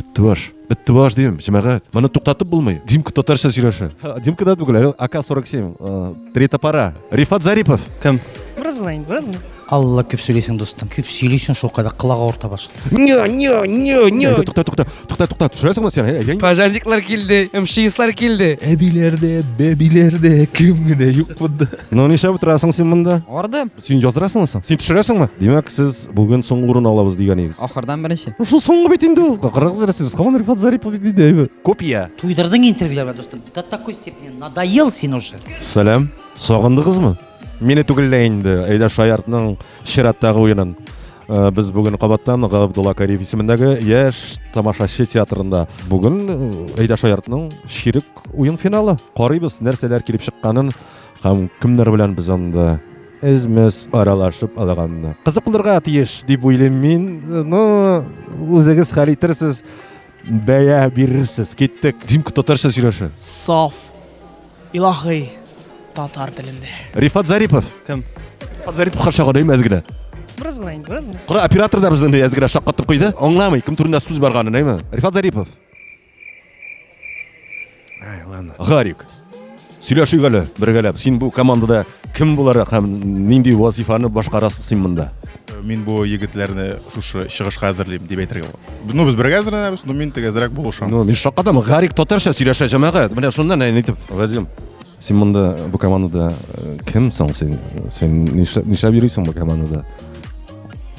Беттебаш. Беттебаш дим, җәмәгать. Моны туктатып булмый. Димка татарча сөйләшә. Димка да түгел, әле АК-47. Э, Третья пара. Рифат Зарипов. Кем? Бераз гына инде, бераз гына. Алла күп сөйлисең, дустым. Күп сөйлисең, шул кадәр кылага орта башлый. Не, не, не, не. Әйдә, Тукта, тукта, тукта, тукта. Төшерәсеңме син? Әй, әй. Пожарниклар килде, МЧСлар килде. Әбиләрдә, бәбиләрдә кем генә юк монда. Ну, нишләп утырасың син монда? Ардым. Син яздырасыңмы соң? Син төшерәсеңме? Димәк, сез бүген соңгы урын алабыз дигән идегез. Ахырдан беренче. Шул соңгы бит инде ул. Кырыгыз рәсез. Хаман Рифат Зарипов бит диде әйбәт. Копия. Туйдырдың интервьюларга дустым. До такой степени надоел син уже. Сәлам. Сагындыгызмы? Мине түгел дә инде. Әйдә Шаяртның чираттагы уенын. Э, Без бүген кабаттан Габдулла Кариев исемендәге яшь тамашачы театрында. Бүген э, Әйдә Шаяртның ширек уен финалы. Карыйбыз, нәрсәләр килеп чыкканын. Һәм кемнәр белән без анда эзмес аралашып алганны. Кызык булырга тиеш дип уйлыйм мин. Ну, үзегез хәл итерсез, бәя бирерсез. Киттек. Димка татарча сөйләшә. Саф. Илаһи татар телендә. Рифат Зарипов. Кем? Рифат Зарипов хаша гына имәз генә. Бераз гына инде, бераз гына. Кара оператор да безне әз генә шаккатып куйды. Аңламый, кем турында сүз барганын, әйме? Рифат Зарипов. Ай, ладно. Гарик. Сөйләшик әле бергәләп. Син бу командада кем буларак һәм нинди вазифаны башкарасың син монда? Мин бу егетләрне шушы чыгышка әзерлим дип әйтергә була. Ну, без бергә әзерләнәбез, но мин тигезрәк булышам. Ну, мин шакадам. Гарик татарча сөйләшә җәмәгать. Менә шуннан әйтеп, Вадим. Син монда бу командада э, кем соң син? Син нишләп нишләп йөрисең бу командада?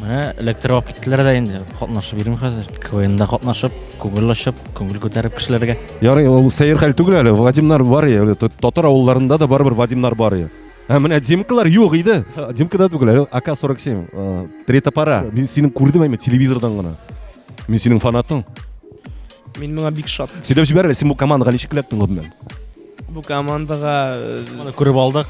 Менә электр алып киттеләр дә инде. Катнашып йөрим хәзер. КВНда катнашып, күңел ачып, күңел күтәреп кешеләргә. Ярый, ул сәер хәл түгел әле. Вадимнар бар я, әле татар авылларында да барыбер Вадимнар бар я. Ә менә Димкалар юк иде. Димка да түгел, әле АК-47. э, Третья пара. Мин синең күрдем әйме телевизордан гына. Мин синең фанатың. Мин моңа бик шат. Сөйләп җибәр әле, син бу командаға ничек эләктең гомумән? Бу командага Моны күреп алдык.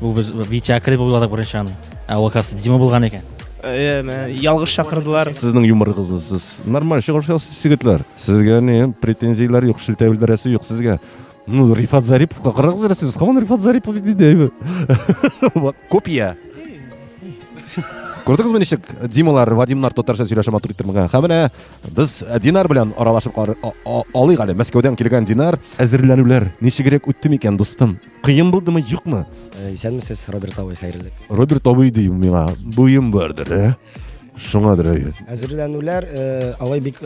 Бу без Витя Акрел дип уйладык беренче аны. Ә ул касы Дима булган икән. э, мә, ялгыш чакырдылар. Сезнең юморыгызны сез нормаль чыгарышасыз, сигетләр. Сезгә ни претензияләр юк, шелтә белдерәсе юк сезгә. Ну, Рифат Зариповка карагыз әле сез, һаман Рифат Зарипов бит инде. әйбәт. Вак, Копия. Күрдегезме ничек Дималар, Вадимнар татарча сөйләшә матур иттермәгән. Һәм менә Без э, Динар белән аралашып кар... алыйк әле. Мәскәүдән килгән Динар. Әзерләнүләр ничегрәк үтте микән, дустым? Кыен булдымы, юкмы? Э, исәнмесез, Роберт абый, хәерле. Роберт абый ди миңа, буем бардыр, ә? Э? Шуңадыр әйе. Әзерләнүләр алай бик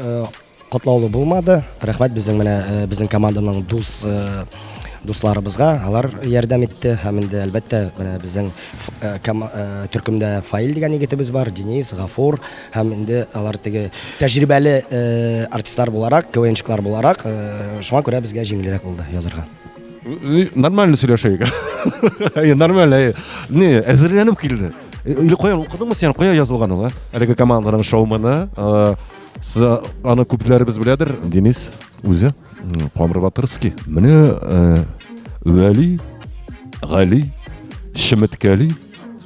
катлаулы булмады. Рәхмәт безнең менә безнең команданың дус дусларыбызга алар ярдәм итте һәм инде әлбәттә менә безнең э, э, төркемдә фаил дигән егетебез бар денис гафур Һәм инде алар теге тәҗрибәле артистлар буларак, КВНчыклар буларак, шуңа күрә безгә җиңелрәк булды язырга. Нормально сөйләшәйек. Нормально. Не, әзерләнеп килде. Или каян укыдыңмы сен, кая язылган ул, әлеге команданың шоуманы? Сез аны күпләребез беләдер, Денис үзе, Камыр Батырский. Менә Вәли, Гали, Шеметкәли,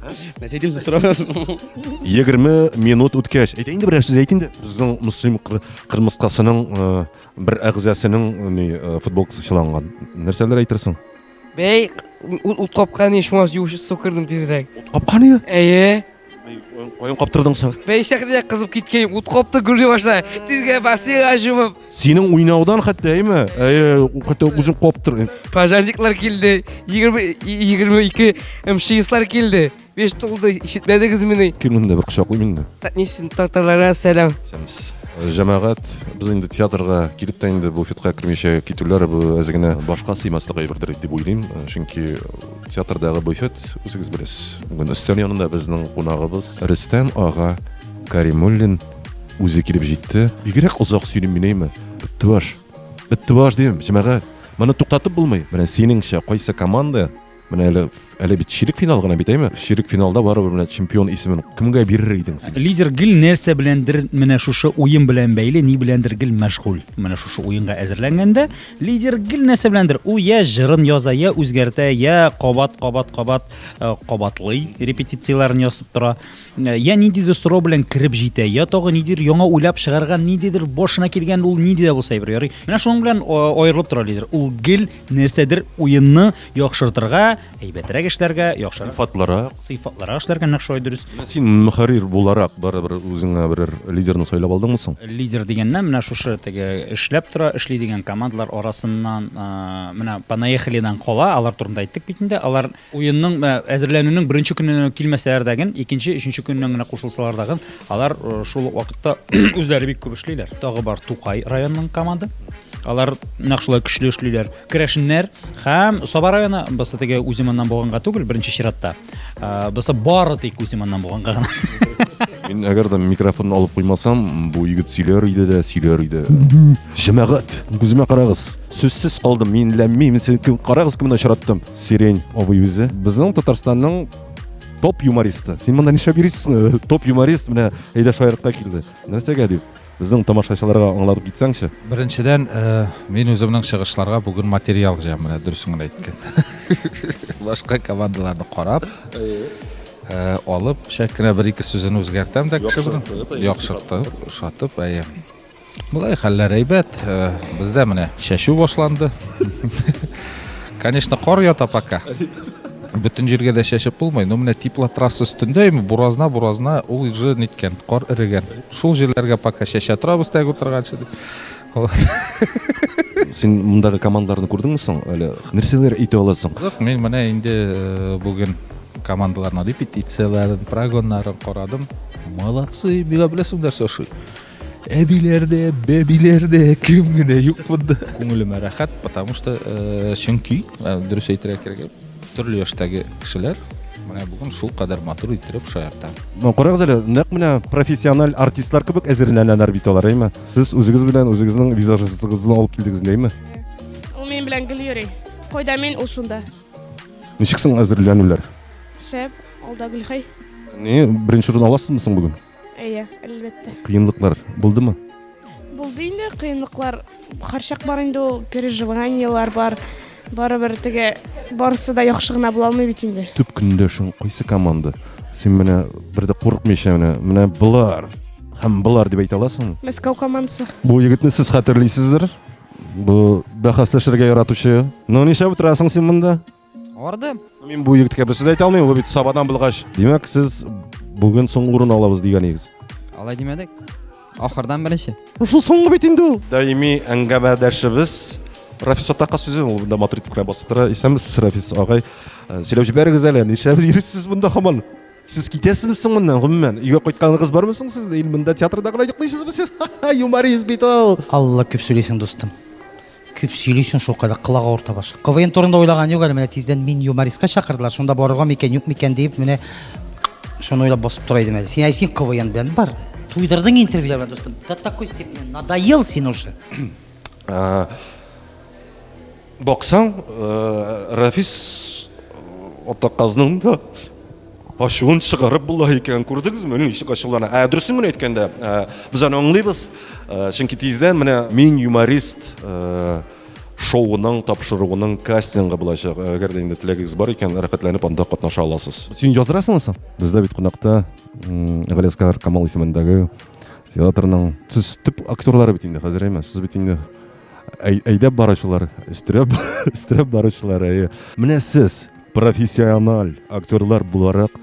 Нәрсә әйтим сез сорагансыз. 20 минут үткәч, әйтә инде берәр сүз әйт инде. Безнең муслим кыр- кырмыскасының э, бер әгъзасының э, ни э, футболкасы чыланган. Нәрсәләр әйтерсең? Бәй, ут, ут капкан не шуңа юш су кырдым тизрәк. Капкан иде. Әйе. Каян каптырдың соң? Бәй, шәхдә кызып киткән ут капты гүли башла. Тизгә басыйга җумып. Синең уйнаудан хәтта, әйме? Әйе, хәтта үзең куып тор. Пожарниклар килде, 20 22 МЧСлар килде. Беш тулды, ишетмәдегез мени? Кил монда бер кочаклыйм инде. Татнисин тарталара сәлам. Сәмсез. Э, Җәмәгать без инде театрга килеп тә инде буфетка кермичә китүләре бу әз генә башка сыймаслык әйбердер дип уйлыйм. Э, Чөнки театрдагы буфет үзегез беләсез. Бүген өстәл янында безнең кунагыбыз Рөстәм ага Каримуллин Үзе килеп җитте. Бигрәк озак сөйлим мин әйме. Беттебаш. Беттебаш дим, җәмәгать. Моны туктатып булмый. Менә синеңчә кайсы команда Менә әле әле бит ширек финал гына бит әйме? Ширек финалда барыбер менә чемпион исемен кемгә бирер идең син? Лидер гел нәрсә беләндер менә шушы уен белән бәйле, ни беләндер гел мәшгуль. Менә шушы уенга әзерләнгәндә лидер гел нәрсә беләндер у я җырын яза, я үзгәртә, я кабат кабат кабат э, кабатлый, репетицияләрен ясап тора. Йә ниндидер сорау белән кереп җитә, йә тагы нидер яңа уйлап чыгарган, ниндидер башына килгән ул нинди дә булса әйбер ярый. Менә шуның белән аерылып тора лидер. Ул гел нәрсәдер уенны яхшыртырга, әйбәтрәк эшләргә, яхшырак, сыйфатлырак, сыйфатлырак эшләргә нәкъ шулай дөрес. Син мөхәррир буларак барыбер үзеңә берәр лидерны сайлап алдыңмы соң? Лидер дигәннән менә шушы теге эшләп тора, эшли дигән командалар арасыннан менә понаехалидан кала, алар турында әйттек бит инде, алар Уенның мә әзерләнүнең беренче көненнән үк килмәсәләр дә ген, икенче, өченче көненнән генә кушылсалар да ген, алар шул ук вакытта үзләре бик күп эшлиләр. Тагы бар Тукай районының команда. Алар нәкъ шулай көчле эшлиләр. Керәшеннәр һәм Саба районы, бысы теге Үзиманнан булганга түгел, беренче чиратта. Бысы бары тик Үзиманнан булганга гына. Мин әгәр дә микрофон алып куймасам, бу егет сөйләр иде дә, сөйләр иде. Җәмәгать, күземә карагыз. Сүзсез калдым, мин ләммим, сез кем, карагыз, кемне очраттым. Сирень абый үзе безнең Татарстанның топ юмористы. Син монда нишләп йөрисең? Топ юморист менә әйдә шаяртка килде. Нәрсәгә дип? Безнең тамашачыларга аңлатып китсәңче. Беренчедән, э, мин үземнең чыгышларга бүген материал җыям, менә дөресен генә әйткән. Башка командаларны карап, э, алып, шәп кенә бер-ике сүзен үзгәртәм дә кеше белән. Яхшыртып, ошатып, әйе. Болай хәлләр әйбәт. Э, бездә менә чәчү башланды. Конечно, кар ята пока. Бөтен җиргә дә чәчеп булмый, но менә теплотрасса өстендә ими буразна буразна ул уже ниткән, кар эрегән. Шул җирләргә пока чәчә торабыз тәг утырганчы дип. Син мондагы командаларны күрдеңме соң? Әле нәрсәләр әйтә аласың? Юк, мин менә инде э, бүген командаларның репетицияләрен, прогоннарын карадым. Молодцы, бигә беләсеңдер, Саша. Әбиләрдә, бәбиләрдә кем генә юк монда. Күңелемә рәхәт, потому что э, чөнки э, дөрес әйтергә кирәк, төрле яшьтәге кешеләр менә бүген шул кадәр матур иттереп шаярта. Ну, карагыз әле, нәкъ менә профессиональ артистлар кебек әзерләнәләр бит алар, әйме? Сез үзегез белән үзегезнең визажистыгызны алып килдегез, әйме? Ул минем белән гел йөри. Кайда мин, ул шунда. Ничек соң әзерләнүләр? Шәп, алда Гөлхәй. Не, беренче урын аласызмы соң бүген? Әйе, әлбәттә. Кыенлыклар булдымы? Булды инде кыенлыклар. Һәрчак бар инде ул переживаниелар бар. Барыбер теге барысы да яхшы гына була алмый бит инде. Төп көндәшең кайсы команда? Син менә бер дә курыкмыйча менә менә болар һәм болар дип әйтә аласың. Мәскәү командасы. Бу егетне сез хәтерлисездер. Бу бәхәсләшергә яратучы. Ну, нишләп утырасың син монда? Арды. Мин бу егеткә берсе дә әйтә алмыйм, ул бит сабадан булгач. Димәк, сез бүген соңгы урын алабыз дигән игез. Алай димәдек. Ахырдан беренче. Шул соңгы бит инде ул. Даими әңгәмәдәшебез Рафис атака сүзе ул монда матур итеп кенә басып тора. Исәнмесез, Рафис агай. Э, сөйләп җибәрегез әле, нишләп йөрисез монда хаман? Сез китәсезме соң моннан, гомумән? Өйгә кайтканыгыз бармы соң сездә? Ил монда театрда гына йоклыйсызмы сез? Юморист бит ул. Алла күп сөйлисең, дустым. Күп сөйлисең шул кадәр колак авырта башлый. КВН турында уйлаган юк әле, менә тиздән мин юмористка чакырдылар, шунда барырга микән, юк микән диеп менә шуны уйлап басып тора идем әле. Син әй син КВН белән бар. Туйдырдың интервьюлар белән дустым. До такой степени надоел син уже. Э, баксаң, э, Рафис э, атаказның да Ачуын чыгарып була икән, күрдегезме? Ничек ачулана. Ә дөресен генә әйткәндә, без аны аңлыйбыз, чөнки тиздән менә Мин юморист шоуының тапшыруының кастингы булачак. Әгәр дә инде теләгегез бар икән, рәхәтләнеп анда катнаша аласыз. Син яздырасыңмы соң? Бездә бит кунакта Галиәскар Камал исемендәге театрның сез төп актерлары бит инде хәзер әйме? Сез бит инде Әйдәп баручылар, өстерәп, өстерәп баручылар, әйе. Менә сез профессиональ актерлар буларак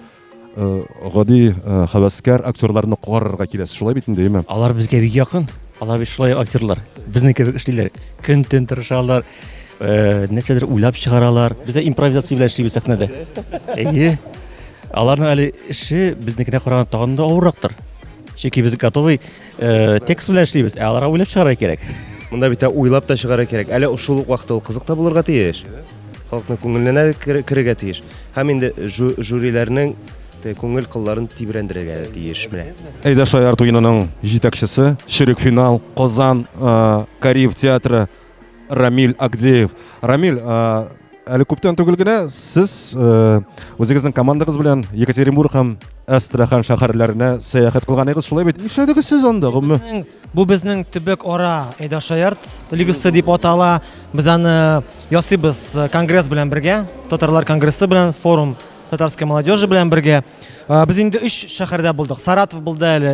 э, гади э, хәвәскәр актерларны карарга киләсез, шулай бит инде, әйеме? Алар безгә бик якын. Алар бит шулай актерлар. Безнең кебек эшлиләр. Көн төн тырышалар. Э, нәрсәдер уйлап чыгаралар. Без дә импровизация белән эшлибез сәхнәдә. Әйе. Аларның әле эше безнекенә караганда тагын да авыррактыр. Чөнки без готовый Э, текст белән эшлибез, ә аларга уйлап чыгарга кирәк. Монда бит уйлап та чыгарга кирәк. Әле шул ук вакытта ул кызык та булырга тиеш. Халыкның күңеленә керергә тиеш. Һәм инде жюриләрнең күңел кылларын тибрәндерергә тиеш менә. Әйдә Шаяр туеның җитәкчесе, чирек финал, Казан э, Кариев театры Рамиль Агдеев. Рамиль, әле күптән түгел генә сез үзегезнең командагыз белән Екатеринбург һәм Астрахан шәһәрләренә сәяхәт кылганыгыз шулай бит? Нишләдегез сез анда, гомме? Бу безнең төбәк ара Эдашаярт лигасы дип атала. Без аны ясыйбыз конгресс белән бергә, татарлар конгрессы белән форум татарской молодежи белән бергә. Без инде 3 шәһәрдә булдык. Саратов булды әле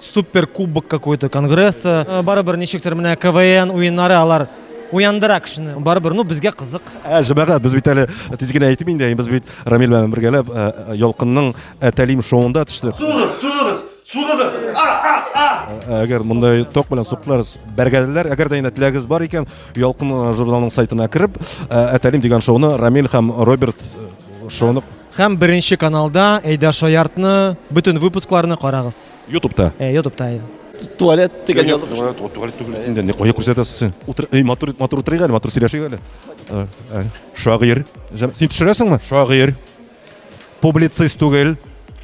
супер кубок какой то конгресса э, барыбер ничектер менә квн уеннары алар уяндыра кешене барыбер ну безгә кызык ә җәмәгать без бит әле тиз генә әйтеп инде без бит рамил белән бергәләп э, э, ялкынның әтәлим шоуында төштек сугыз сугыз сугыз әгәр мондай ток белән суктылар бәргәләр әгәр дә инде теләгегез бар икән ялкын журналының сайтына кереп әтәлим дигән шоуны рамил һәм роберт шоуны Һәм беренче каналда Әйдә шаяртны, бөтен выпускларны карагыз. Ютубта. Э, Ютубта. Туалет дигән язып. Туалет түгел инде. Ни кая күрсәтәсез син? Утыр, эй, матур, матур утырыйк әле, матур сөйләшик әле. Э, э, Шагыйрь. Җам- Син төшерәсеңме? Шагыйрь. Публицист түгел.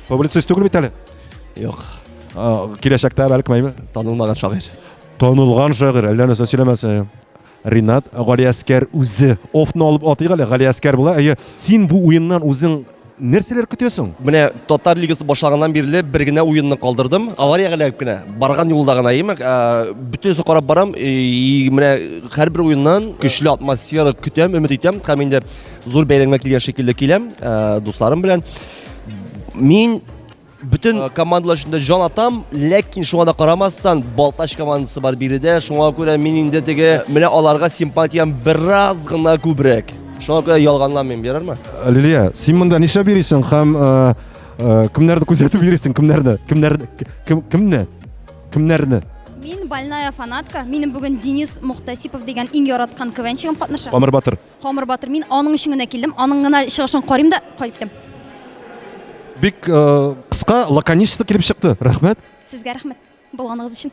Публицист түгел бит әле. Юк, А, Киләчәктә бәлкем әйбер. танылмаган шагыйрь. Танылган шагыйрь, әллә нәрсә сөйләмәсә. Ринат, Галиәскәр үзе офны алып атыйк әле. Галиәскәр була. Әйе, син бу уеннан үзең нәрсәләр көтәсең? Менә татар лигасы башлаганнан бирле бер генә уенны калдырдым. Авария гәләп кенә барган юлда гына имәк, бөтенесе карап барам. И менә һәрбер уеннан көчле атмосфера көтәм, өмет итәм. Һәм инде зур бәйрәмгә килгән шикелле киләм, дусларым белән. Мин Бөтен э, командалар өчен дә җан атам, ләкин шуңа да карамастан, Балтач командасы бар биредә. Шуңа күрә мин инде теге менә аларга симпатиям бераз гына күбрәк. Шуңа күрә ялганламыйм, ярармы? Лилия, син монда нишләп йөрисең һәм э, э, кемнәрне күзәтеп йөрисең, кемнәрне? Кемнәрне? Кемне? Кемнәрне? Мин больная фанатка. Минем бүген Денис Мухтасипов дигән иң яраткан квенчигым катнаша. Камыр Батыр. Камыр батыр, мин аның өчен генә килдем, аның гына чыгышын карыйм да кайтып китәм. Бик э, кыска, лаконичество килеп чыкты. Рәхмәт. Сезгә рәхмәт булганыгыз өчен.